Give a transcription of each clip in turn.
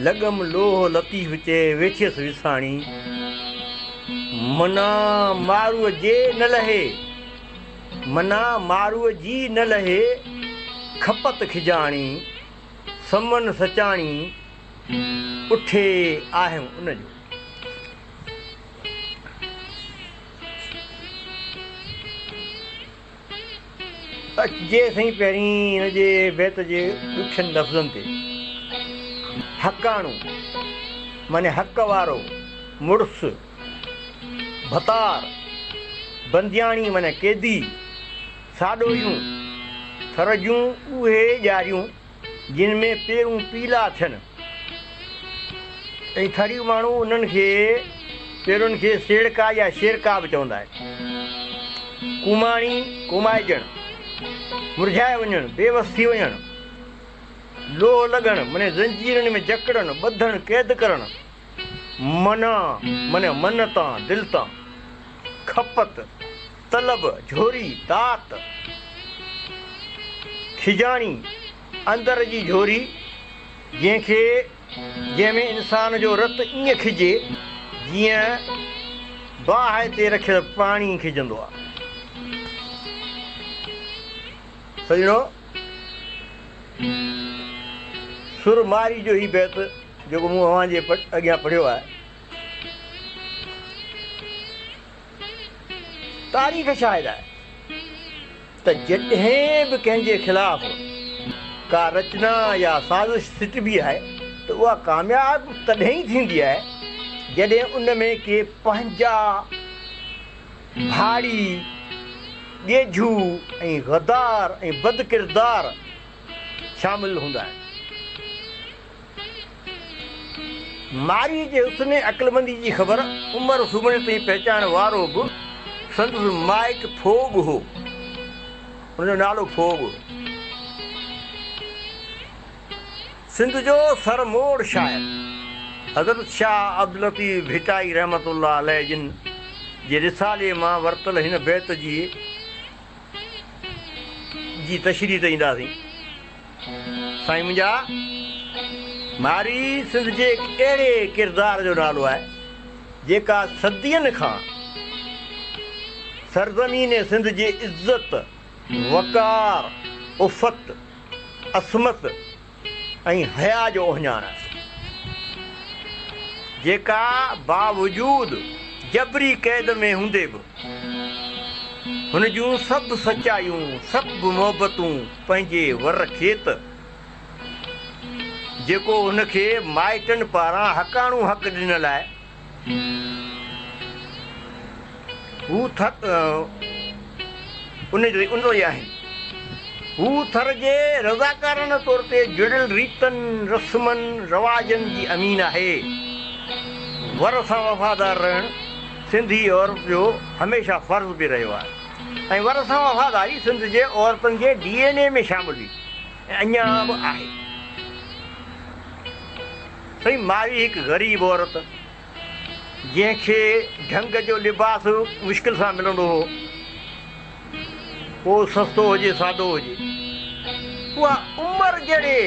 لڳم لوهه لطيف چي ويٺيس وساڻي. منا مارو جي نه لهي. منا مارو جي نه لهي کپت کجاڻي. سمن سچاڻي اٺي آهيم ان جو. اچجي سائين پهرين هن جي بيت جي ڏکين لفظن تي. حقاڻو معني حق وارو، مڙس، ڀتار، بندياڻي معني قيدي، ساڏوهيون، ٿر جون اهي ڄاريون جن ۾ پيرون پيلا ٿين ۽ ٿريون ماڻهو انهن کي پيرن کي سيڙڪا يا شيرڪا به چوندا آهن. ڪوماڻي، ڪومائجڻ، مرجهائي وڃڻ، بيوس ٿي وڃڻ، لوهه لڳڻ مني زنجيرن ۾ جڪڙڻ، ٻڌڻ، قيد ڪرڻ، منا مني من تان، دل تان، کپت، طلب، جھوري، طاق، کجاڻي، اندر جي جھوري، جنھن کي جنھن ۾ انسان جو رت ائين کجي جيئن باھه تي رکيل پاڻي کجندو آ. سڄڻو! سر ماري جو ھي بيت جيڪو مون اوھان جي اڳيان پڙھيو آھي. تاريخ شاهد آهي ته جڏهن به ڪنهن جي خلاف ڪا رچنا يا سازش سٽبي آهي ته اها ڪامياب تڏهن ئي ٿيندي آهي جڏهن ان ۾ ڪي پنهنجا ڀاڙي، ڳيجهو ۽ غدار ۽ بدڪردار شامل هوندا آهن. مارئيء جي حسن ۽ عقلمنديء جي خبر عمر سومري تائين پهچائڻ وارو به سندس مائٽ فوگ هو. ان جو نالو فوگ هو. سنڌ جو سرموڙ شاعر حضرت شاهه عبداللطيف ڀٽائي رحمة الله عليه جن جي رسالي مان ورتل هن بيت جي جي تشريح تي اينداسين. سائين منهنجا، ماري سنڌ جي هڪ اهڙي ڪردار جو نالو آهي، جيڪا صدين کان سرزمين سنڌ جي عزت، وقار، عفت، عصمت ۽ حياء جو اوهڃاڻ آهي. جيڪا باوجود جبري قيد ۾ هوندي به هن جون سڀ سچايون، سڀ محبتون، پنهنجي ور کيت، جيڪو هن کي مائٽن پاران حقاڻو حق ڏنل آهي، هو ٿر ان جو ئي آهن. هو ٿر جي رضاڪارانه طور تي جڙيل ريتن، رسمن، رواجن جي امين آهي. ور سان وفادار رهڻ سنڌي عورت جو هميشه فرض به رهيو آهي. ۽ ور سان وفاداري سنڌ جي عورتن جي ڊي اين اي ۾ شامل هئي ۽ اڃا به آهي. سائين ماري هڪ غريب عورت جنهن کي ڍنگ جو لباس مشڪل سان ملندو هو، پوء سستو هجي سادو هجي، اها عمر جهڙي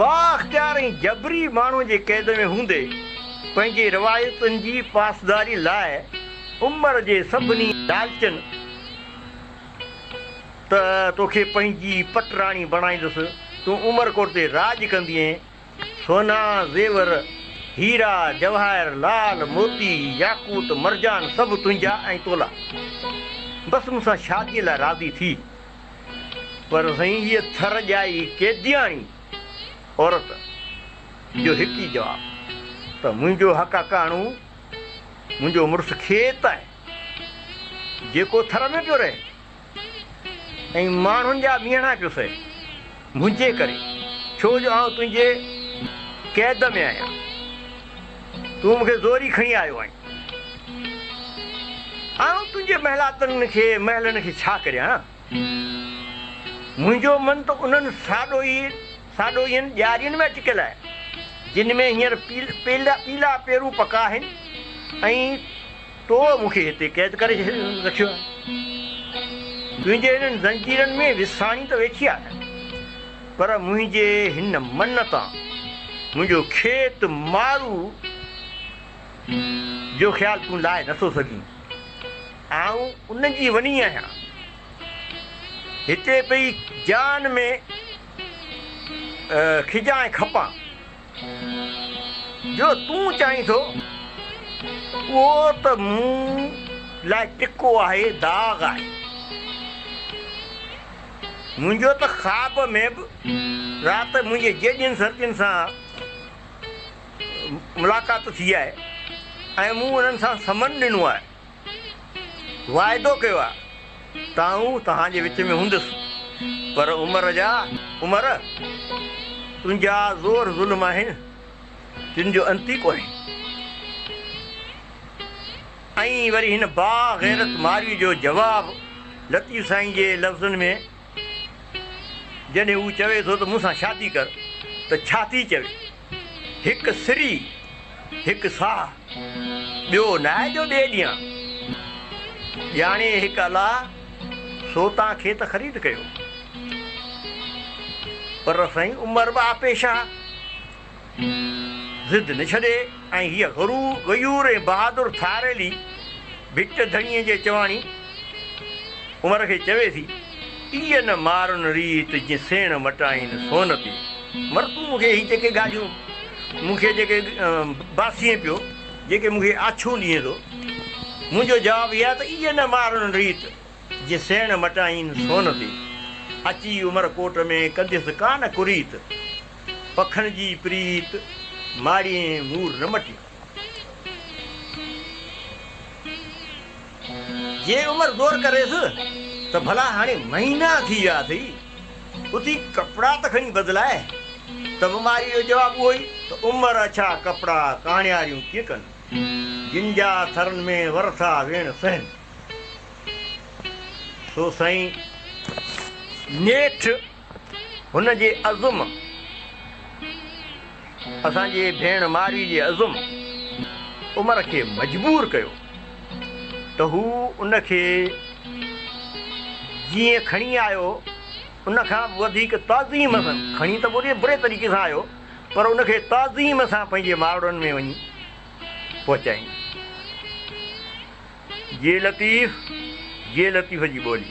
بااختيار ۽ جبري ماڻهو جي قيد ۾ هوندي پنهنجي روايتن جي پاسداري لاء، عمر جي سڀني لالچن ته توکي پنهنجي پٽ راڻي بڻائيندس، تون عمر ڪوٽ تي راڄ ڪندينء، سونا، زيور، هيرا، جواهر، لعل، موتي، ياقوت، مرجان سڀ تنهنجا ۽ تولا. بس مون سان شاديء لاء راضي ٿي. پر سائين هيء ٿر ڄائي قيدياڻي عورت جو هڪ ئي جواب ته منهنجو حق اڪاڻو. منهنجو مڙس کيت آهي، جيڪو ٿر ۾ پيو رهي ۽ ماڻهن جا ميڻا پيو سهي، منهنجي ڪري، ڇو جو آئون تنهنجي قيد ۾ آهيان، تون مون کي زوري کڻي آيو آهين. آئون تنهنجي محلاتن کي، محلن کي ڇا ڪريان؟ منهنجو من ته انهن ساڏوهين ڄارين ۾ اٽڪيل آهي، جن ۾ هينئر پيلا پيرون پڪا آهن ۽ تو مون کي هتي قيد ڪري رکيو آهي. تنهنجي هنن زنجيرن ۾ وساڻي ته ويٺي آهيان، پر منهنجي هن من تان منهنجو کيت مارو جو خيال تون لاهي نٿو سگهين. آئون ان جي وني آهيان. هتي پئي جان ۾ کجان ۽ کپان. جو تون چائين ٿو، اهو ته مون لاء ٽڪو آهي، داغ آهي. منهنجو ته خواب ۾ به رات منهنجي جيجين سرتين سان ملاقات ٿي آهي ۽ مون انهن سان سمن ڏنو آهي. واعدو ڪيو آ ته آئون توهان جي وچ ۾ هوندس پر عمر جا عمر تنهنجا زور ظلم آهن جن جو انت ئي ڪونهي ۽ وري هن با غيرت مارئي جو جواب لطيف سائين جي لفظن ۾ جڏهن هو چوي ٿو ته مون سان شادي ڪر ته ڇا ٿي چوي. هڪ سري هڪ ساهه، ٻيو ناهي جو ڏي ڏيان. ڄاڻي هڪ الله، سو تان کي ته خريد ڪيو. پر سائين عمر به آپي شاهه، ضد نه ڇڏي ۽ هيء غيور ۽ بهادر ٿاريلي ڀٽ ڌڻيء جي چواڻي عمر کي چوي ٿي. پيء نه مارن ريت جي سيڻ وٽائين سون تي. مر تون مون کي هي جيڪي ڳالهيون مون کي جيڪي باسين پيو جيڪي مون کي آڇون ڏئين ٿو منهنجو جواب هي آهي ته اي نه مارن ريت جي سيڻ وٽائين سون تي اچي عمر ڪوٽ ۾ ڪنديس ڪانه ڪريت پکن جي پريت ماڙيين مور نه مٽيون. جي عمر غور ڪريس ته ڀلا هاڻي مهينا ٿي ويا اٿئي، اٿي ڪپڙا ته کڻي بدلائي، ته مماريء جو جواب اهو ئي ته عمر اڇا ڪپڙا ڪاڻياريون ڪيئن ڪن، جن جا ٿرن ۾ ورٿا ويڻ سهن. سو سائين نيٺ. هن جي عزم اسان جي ڀيڻ مارئي جي عزم عمر کي مجبور ڪيو ته هو ان کي جيئن کڻي آيو ان کان به وڌيڪ تعظيم سان کڻي ته بوري بري طريقي سان آيو پر ان کي تعظيم سان پنهنجي ماڙن ۾ وڃي پهچائين جي لطيف جي لطيف جي ٻولي.